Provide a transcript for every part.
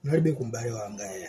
kunalibe m'bale wanga yayi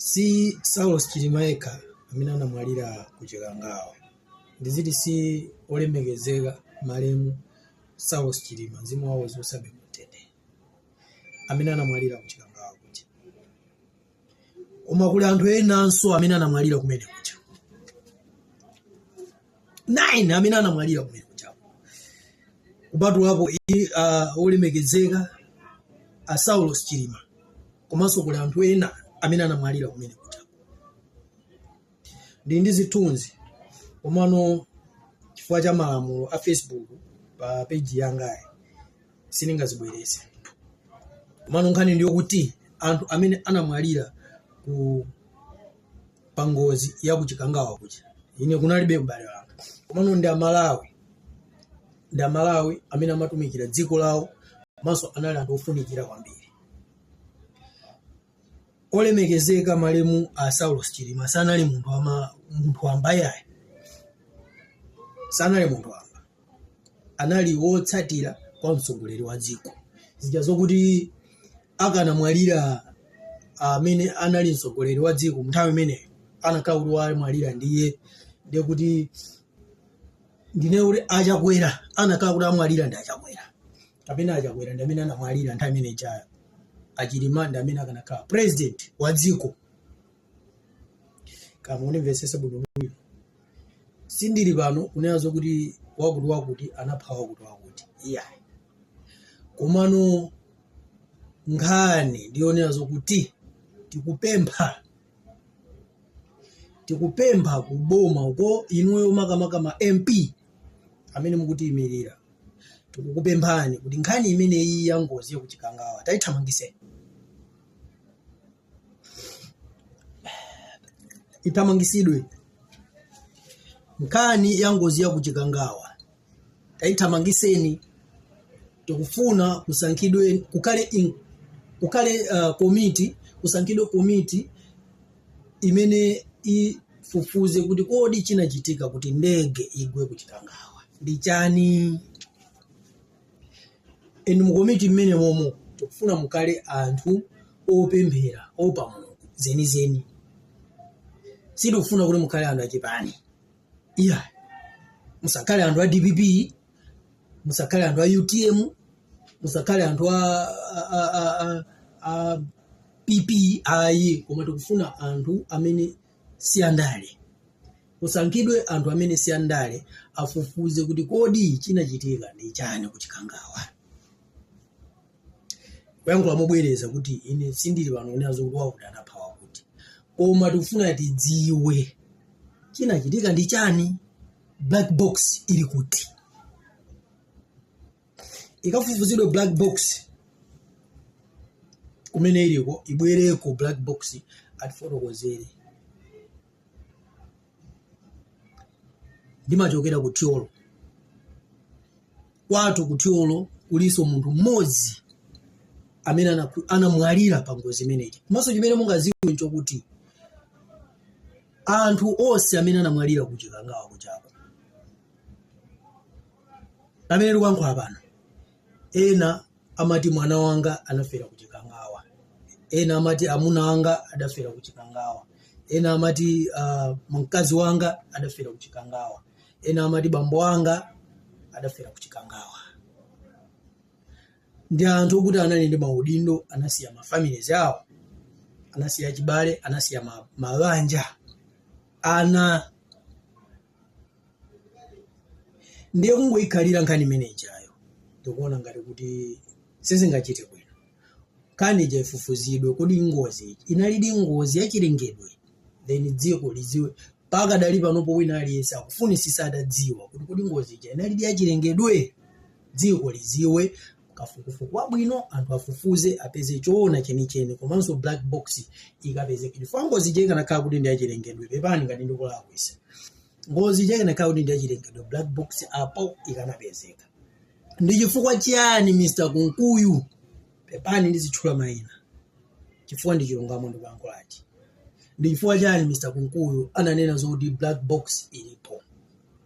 si saulos chilima yekha amene anamwalira ku chikangawa ndiziti si olemekezeka malemu saulos chilima mzimu wawo uziusabe mumtendere amene anamwalira ku chikangawa kuja koma kuli anthu enanso amene anamwalira kumene kuja 9 amene anamwalira kumene kuja kupatulapo uh, olemekezeka a saulos chilima komanso kuli anthu ena amene anamwalira kumene kuja ndili ndi zithunzi komano chifukwa cha malamulo a facebook pa peji yangayi sindingazibwereze komano nkhani ndi yokuti anthu amene anamwalira ku pangozi ya kuchikangawa kuja ine kunalibe m'bale wanga komano ndi amalawi ndi amalawi amene amatumikira dziko lawo komanso anali anthu ofunikira kwambiri olemekezeka malemu a saulos chilima sanali munthu wamba yayi sanali munthu wamba anali wotsatira kwa mtsogoleri wa dziko zija zokuti akanamwalira amene anali mtsogoleri wa dziko nthawi imeneyo anakhala kuti wamwalira ndiye ndiye kuti ndine kuti achakwera anakhala kuti amwalira ndi achakwera kapena achakwera ndi amene anamwalira nthawi imene ija achilima ndi amene akanakhala president wa dziko koma mundimvetsetse bwinobwino sindili pano kunena zokuti wakuti wakuti anapha wakuti wakuti iyayi komano nkhani ndiyonena zokuti tikupempha tikupempha kuboma uko inuyo makamaka ma mp amene mukutiyimirira tikukupemphani kuti nkhani imeneyi ya ngozi yakuchikangawa tayithamangitseni ithamangitsidwe nkhani ya ngozi ya kuchikangawa taithamangitseni tikufuna kusankhidwe kukhale in, kukhale uh, komiti kusankhidwe komiti imene ifufuze kuti kodi chinachitika kuti ndege igwe kuchikangawa ndi chani and mukomiti mmene momo tikufuna mukhale anthu opemphera oopa mulungu zenizeni sitikufuna kuti mukhale anthu achipani iya musakhale anthu a dpp musakhale anthu a utm musakhale anthu a, a, a, a, a, a pp ayi koma tikufuna anthu amene si andale kusankhidwe anthu amene si andale afufuze kuti kodi chinachitika ndi chani ku chikangawa kuyankhula mobwereza kuti ine sindili pano kunena zokuti wakuti anapha wakuti koma tikufuna tidziwe chinachitika ndi chani black box ili kuti ikafufuzidwe black box kumene iliko ibwereko black box atifotokozere ndimachokera ku thyolo kwathu ku thyolo kulinso munthu mmodzi amene anamwalira pa ngozi imeneyi komanso chimene mungaziwe nchokuti anthu onse amene anamwalira ku chikangawa kuchako amene tikuyankhula pano ena amati mwana wanga anafera ku chikangawa ena amati amuna wanga adafera ku chikangawa ena amati uh, mkazi wanga adafera ku chikangawa ena amati bambo wanga adafera ku chikangawa ndi anthu okuti anali ndi maudindo anasiya mafamilies awo anasiya chibale anasiya ma- mabanja ana ndiye kungoyikhalira nkhani imene ijayo ndikuona ngati kuti sizingachite bwino nkhani ija ifufuzidwe kodi ngozi ija inalidi ngozi yachilengedwe then dziko lidziwe mpaka pakadali panopo wina aliyense akufunisisa atadziwa kuti kodi ngozi ija inalidi yachilengedwe dziko liziwe kafukufuku wabwino anthu afufuze apeze choona chenicheni komanso black box ikapezeka chifukwa ngozi ija ikanakhala kuti ndi yachilengedwe pepani ngati ndikulakwisa ngozi ija ikanakhala kuti ndi yachilengedwe black box apo ikanapezeka ndi chifukwa chiyani mr kunkuyu pepani ndizitchula mayina chifukwa ndi chilungamo ndikuyankhulachi ndi chifukwa chiyani mr kunkuyu ananena zokuti black box ilipo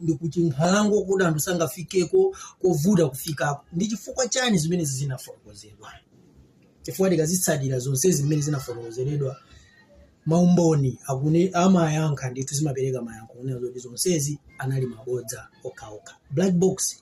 ndi kuchinkhalango kuti anthu sangafikeko kovuta kufikako ndi chifukwa chani zimene zinafotokozedwa chifukwa tikazitsatira zonse zimene zinafotokozeredwa maumboni akune amayankha ndithu zimapereka mayankho kunena zoti zonsezi anali mabodza okhaokha black box